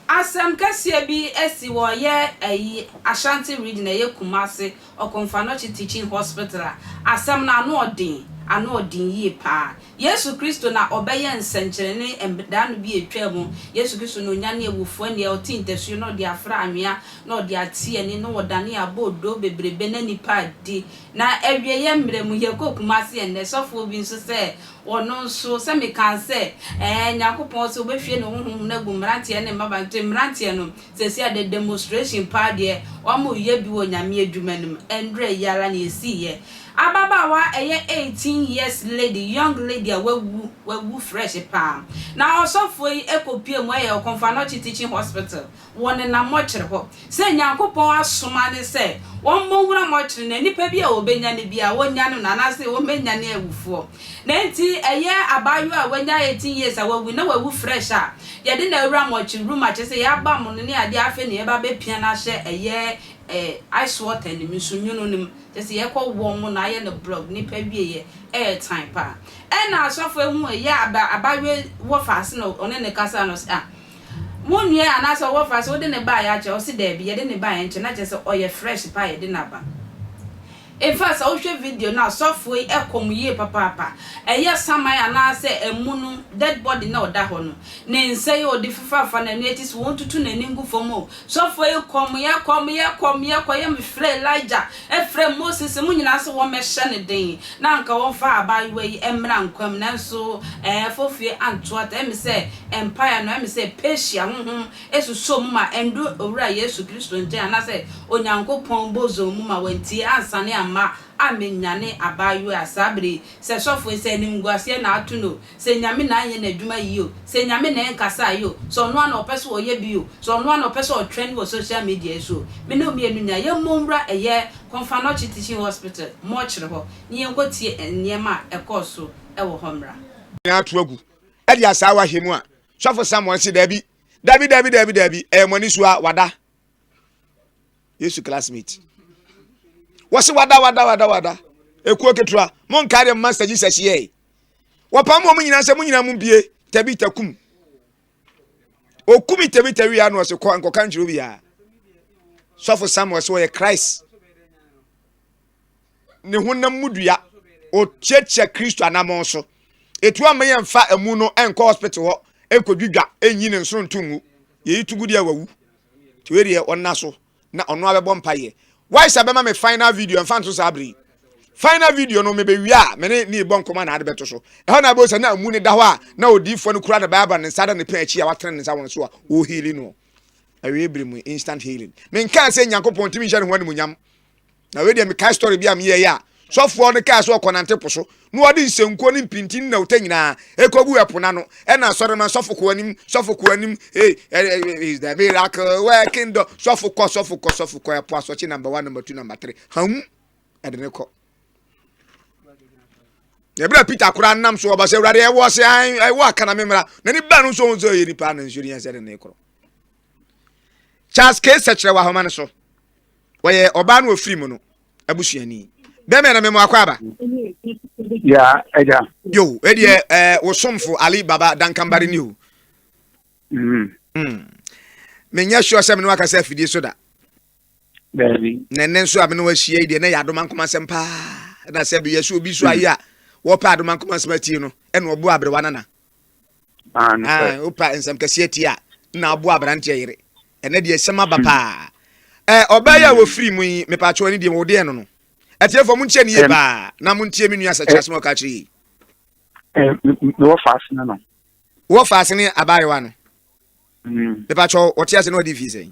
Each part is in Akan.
Asɛm kɛseɛ bi asi wɔ yɛ ayi Ashanti region a ɛyɛ Kumasi. Okomfanokye Teaching Hospital a asɛm no ano ɔden, ano ɔden yie paa. Yesu Kristo na ɔbɛyɛɛ nsɛnkyerɛnne da no bi a ɛtwaa mu. Yesu Kristo na ɔnyanee awufoɔ nneɛ, ɔtee ntasuo na ɔde afra anwea, na ɔde atee ani, na ɔdanee aboodoo bebrebe na nnipa adi. Na awieɛ mmerɛ mu, yɛkɔ Kumasi ɛnnɛ, sɔfoɔ bi nso sɛ ɔno nso, sɛ mekaa sɛ, ɛɛ, Nyankopɔn sɛ ɔbɛhwie ne Honhom no agu mmeranteɛ ne mmabaa, nti mmeranteɛ no, Sɛsi a dɛ demonstration paa deɛ wɔn yɛ bi wɔ Nyame adwuma no mu ɛndrɛ yi ara na yɛsii yɛ. Ababaawa a ɛyɛ eighteen years lady, young lady a wawu, wawu fresh paa. Na ɔsɔfoɔ yi ɛkɔ pie mu ɛyɛ Okomfo-Anokye Teaching Hospital, wɔ ne nam mɔkyere hɔ. Sɛ Nyankopɔn asoma ne sɛ wɔn mɔ nwura mɔkyere no, nipa bi a ɔbɛnyane biara, wɔnyane no, anaase wɔn bɛnyane awufoɔ. Na enti ɛyɛ abaayewa a wanya eighteen years a wawu na wawu fresh a, yɛde no awura mortuary room a kyerɛ sɛ yɛabam no ne adeɛ afei na yɛba bɛpia no ahyɛ ɛyɛ eh, ice water no mu, nsu nwono no mu. Kyerɛ sɛ yɛkɔ warm no ayɛ no block, nnipa wieɛ ɛyɛ tan paa. Ɛna asɔfo ehu ɛyɛ aba, abaayewa wɔ faase na ɔne no kasa no ɔse ah, wo nua anaasɛ ɔwɔ faase wode no baeɛ akyɛ? Ɔse daabi, yɛde no baeɛ nkyɛ na kyerɛ sɛ ɔyɛ fresh paa a yɛde no aba. In fact, sɛ wohwɛ video no a, sɔfo yi kɔ mu yie papaapa. Ɛyɛ saman anaasɛ amu no dead body na ɔda hɔ no. Ne nsa yi a ɔde fufu afa n'ani akyi sɛ wɔntutu n'ani ngu fam o. Sɔfo yi kɔ mu yɛ, kɔ mu yɛ, kɔ mu yɛ, kɔ yɛ. Mefrɛɛ Elijah, frɛɛ Moses, wɔn nyinaa sɛ wɔmmɛhyɛ no den na anka wɔmfa abaayewa yi mmra nkwa mu. Nanso ɛɛ, fofie antoa ta. Ɛyɛ me sɛ mpaeɛ no, ɛyɛ me sɛ Persia honhom Esusuo mu ma ɛndu Owura Yesu Kristo nkyɛn anaasɛ Onyankopɔn bosom mu ma wantie ansane amma ammenyane abaayewa a saa bere yi, sɛ sɔfo yi, sɛ animguaseɛ na ato no o, sɛ Nyame na anyɛ n'adwuma yie o, sɛ Nyame na ɛnkasaa yi o, sɛ ɔno ara na ɔpɛ sɛ ɔyɛ bi o, sɛ ɔno ara na ɔpɛ sɛ ɔtrend wɔ social media yi so o. Me ne wo mmienu nyinaa, yɛmmɔ nwura ɛyɛ Konfanochi Teaching Hospital mortuary hɔ na yɛnkɔtie nneɛma a ɛkɔɔ so wɔ hɔ mmra. nyinaa to agu de asaawa ahyɛ mu a, Sɔfo Samuel se, Dabi, dabi, dabi, dabi, dabi, ɛyɛ mo ani so a wada. Yesu classmate. Wɔse wada, wada, wada, wada. Ekuo ketewa, mo nkaa deɛ Master Jesus yɛe. Wɔpam wɔn nyinaa sɛ mo nyinaa mo bie, tabi takum. Okumi tabi tabi ya no ɔse kɔ nkɔka nkyerɛ obiara. Sɔfo Samuel sɛ ɔyɛ Christ. ne honam mu dua ɔkyeakyea kristo anamɔn so ɛtu ama yɛ mfa ɛmu no ɛnkɔ hospital hɔ ɛnkɔdwidwa ɛnyi ne nsoro nto ngu yɛyi to gu deɛ wawu nti wei deɛ ɔnna so na ɔno abɛbɔ mpa yɛ wae sɛ bɛma me final video ɛmfa nso saa bere final video no mebɛwie a me ne ne bɔ nkɔma na ade bɛto so ɛhɔ na abɛhu sɛ na amu ne da hɔ a na odiifoɔ no kura ne bible ne nsa da ne pɛn akyi a watene ne nsa wɔn so a ɔhili no awie bere mu instant healing menkaa sɛ nyankopɔn ntumi nhyɛ ne ho animonyam na wei deɛ mekae story bi a meyɛeɛ a sɔfoɔ no kaa sɛ ɔkɔnante po so na ɔde nsankuo ne mpintin ne nawota nyinaa ɛkɔgu ɛpo no ano ɛna asɔre ma sɔfo kɔ anim sɔfo kɔ anim hey, eh, eh, eh, is the miracle working dɔ sɔfo kɔ sɔfo kɔ sɔfo kɔ ɛpo asɔkye number one number two number three hàn ɛde ne kɔ ɛberɛ peter koraa nam so ɔba sɛ awurade ɛwɔ sɛ ɛwɔ akana me mmara na ne ba no nso ɔhu sɛ ɔyɛ nipa na nsuo ne yɛn sɛ de ne korɔ charles k sɛkyerɛ wɔ ahoma no so wɔyɛ ɔbaa no ofiri mu no abusuani bɛmɛ na mɛmu akɔ aba. ya ɛgya. yo ɛdeɛ ɛɛ wosomfo ali baba dankambari ni o. Mm-hmm. Mm. menyɛ sure sɛ mene wakasa afidie so da na ɛnɛ nso a mene wahyia yi deɛ na yɛ adoma nkoma nsɛm paa na sɛ bɛyɛ so obi so ayɛ a wɔpɛ adoma nkoma nsɛm atie no ɛna ɔbo aberewa nana Ah, no sɛ. Ah, opa nsɛm kɛseɛ ti a na aboa aberanteɛ yere. Ɛnɛ deɛ ɛsɛm aba hmm. paa. Ɛ ɔbaa yi a hmm. wɔfiri mu yi mepatwo ne deɛ wɔdeɛ no no. Atiefoɔ mo ntie ne yie paa na mo ntie me nua sɛ kyerɛ sɛ wɔka kyerɛ yi. Mewɔ faase no no. Wɔ faase ne abaayewa no. Hmm. Mepatwo wɔte ase na wɔde fii sɛn.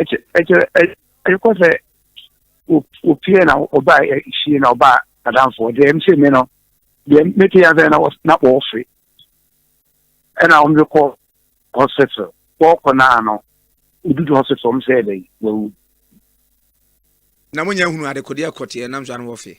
ɛkyɛ ɛkyɛ ɛkyɛ kɔ sɛ wopie na ɔbaa ɛhyie na ɔbaa adanfoɔ deɛ ɛm sɛ mi no deɛ mete yɛn sɛ na wɔ na wɔɔfe ɛna wɔn de kɔ hospital wɔɔkɔ naa no odudu hospital wɔn sɛ ɛbɛn wawu. na mo nyɛ hunu adekodeɛ kɔteɛ nam so ano wɔfe.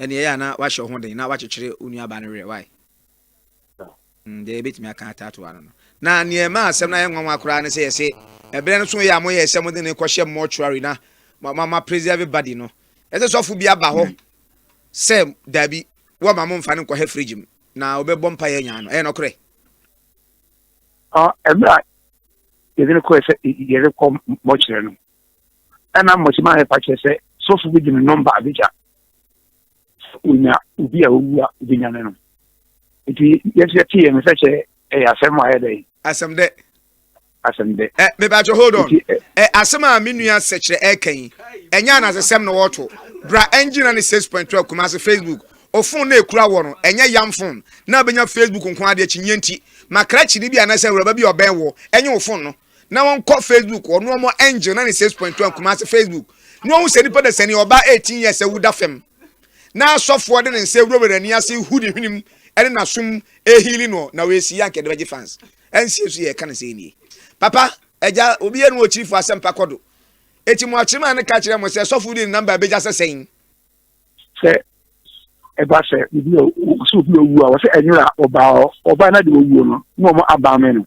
Ɛnneɛ ɛyɛ a na woahyɛ wo ho den na woakyekyere wo nuabaa no werɛ. Wai? Mm, deɛ yɛbɛtumi aka ataatoa no no. Na nea ɛma asɛm no ayɛ nwanwa koraa ne sɛ yɛse ɛberɛ no so yɛ a moyɛɛ sɛ mode no rekɔhyɛ mortuary na ma ma ma preserve body no. Ɛsɛ sɔfo bi aba hɔ sɛ daabi, wɔmma momfa no nkɔhɛ fridge mu na ɔbɛbɔ mpaeɛ anya no. Ɛyɛ nɔkorɛ? Ah, ɛberɛ a yɛde no kɔɛ sɛ yɛde kɔ mortuary no, ɛna mmɔkye maa yɛpa kyerɛ sɛ sɔfo bi de ne nɔmba abegya onya obi a owu a obenya ne no nti yɛsɛ yɛte yɛn sɛ kyɛ ɛyɛ asɛm a ɛyɛ dɛ asɛm dɛ asɛm dɛ ɛ mebakyɛ hold on ɛ asɛm a me nua sɛkyerɛ ɛka yi ɛnyɛ anasɛsɛm na wɔto bra ɛngyina ne six point twelve kumase facebook ofon na ekura wɔ no ɛnyɛ yam fon na abenya facebook nko adeɛ kyinyɛ nti makrakyi ne bi anasɛ awuraba bi ɔbɛn wɔ ɛnyɛ ofon no na wɔnkɔ facebook ɔno ɔmo angel na ne six point one kumase facebook na wɔn sɛ nipa da sani ɔbaa eighteen years ɛwu da fam na asɔfoɔ de ne nsa ewurawura n'ani ase hu ne hwenem ɛne n'asom ehili no na wɔasi yɛ ankɛdɛ bɛgye fans ɛnsie so yɛ ɛka ne sɛ nie papa ɛgya obi yɛ no wɔ kyirifo asɛm pa kɔ do eti mo akyerɛ maa ne ka kyerɛ mo sɛ sɔfo de ne namba abegya sɛ sɛn. sɛ ɛba sɛ obi a sɛ obi owu a wɔsɛ ɛnyɛ a ɔbaa ɔbaa na de owuo no na wɔn abaa mɛ no.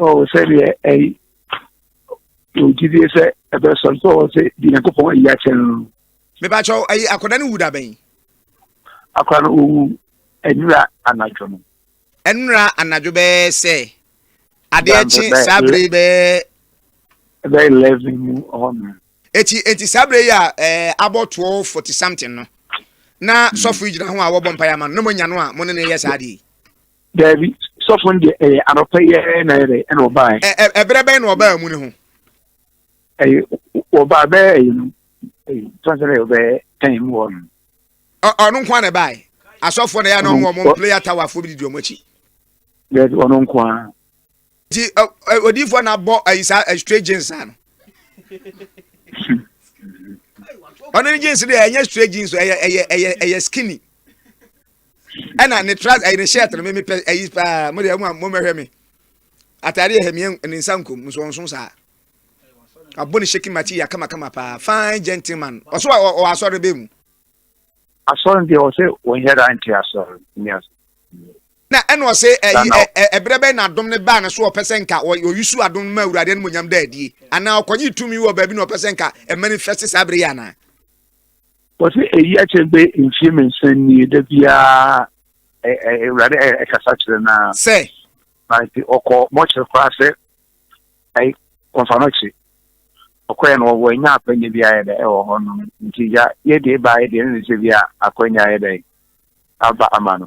ɔwɔ sɛdeɛ ɛyi ɔgyidie sɛ ɛbɛsɔ nso ɔwɔ sɛ di nyankopɔn ayi akyɛ no mebakyɛ ayi akɔda no wu da bɛn akɔda no ɔwu ɛnura anadwo no ɛnura anadwo bɛyɛ sɛ adeɛ kye saa bere bɛyɛ ɛbɛyɛ eleven mu ɔhɔ no eti eti saa bere yi a ɛɛ abɔ twelve forty something no na hmm. sɔfo yi gyina ho a wɔbɔ mpaeɛ ama no na mo nya no a mo ne no yɛ saa adeɛ yi. Daabi, sɔfo no deɛ ɛyɛ anɔpa yi ara na yɛdɛ ɛna ɔbaeɛ. Ɛ ɛ ɛberɛ bɛn na ɔbaa mu ne ho? Ɛyɛ ɔbaa bɛyɛ ɛyɛ no ɛyɛ tɔnsɛn ɛyɛ ɔbɛyɛ tɛn mu hɔ no. Ɔ ɔno nko ara na ɛbaeɛ asɔfoɔ na ɛyɛ na ɔmo ɔmo player tower foɔ bi di wɔn akyi. Daabi ɔno nko ara. Nti odiifoɔ na abɔ ayi saa straight jeans saa no. Ɔno ne jeans deɛ ɛnyɛ straight jeans ɛyɛ ɛyɛ ɛyɛ ɛyɛ skinny. Ɛna ne trousers ɛyɛ ne shirt no mímí pɛ ɛyi paa mo deɛ mo a mo mɛhwɛ mi. Ataade yɛ hɛmiɛ ne nsa nkom nsonson saa. Abɔ ne shaking material kamakama paa fine gentleman. Ɔso ɔ ɔ asɔre bɛ mu. Asɔre deɛ ɔsɛ wɔn yɛrɛ ante asɔre ni asɔre. na ɛna ɔse ɛyi ɛberɛ bɛn na adom no baa ne so ɔpɛ sɛ nka ɔyusu adom no ma awurade animonyam da adie anaa ɔkɔgye tumi wɔ baabi na ɔpɛ sɛ nka ɛmanifɛste saa berɛ yi anaa wɔse ɛyi akyɛ bɛ mfie mmiɛnsa nie da biara awurade ɛkasa kyerɛ no a sɛ nti ɔkɔ mɔkyere koraa sɛ ai kɔmfa no kye ɔkɔɛ no wɔwɔ anya akwanya bi ayɛ dɛ ɛwɔ hɔ no nti ya yɛdeɛ baayɛ deɛ ne ne sɛ bi a akwanya ayɛ dɛ aba ama no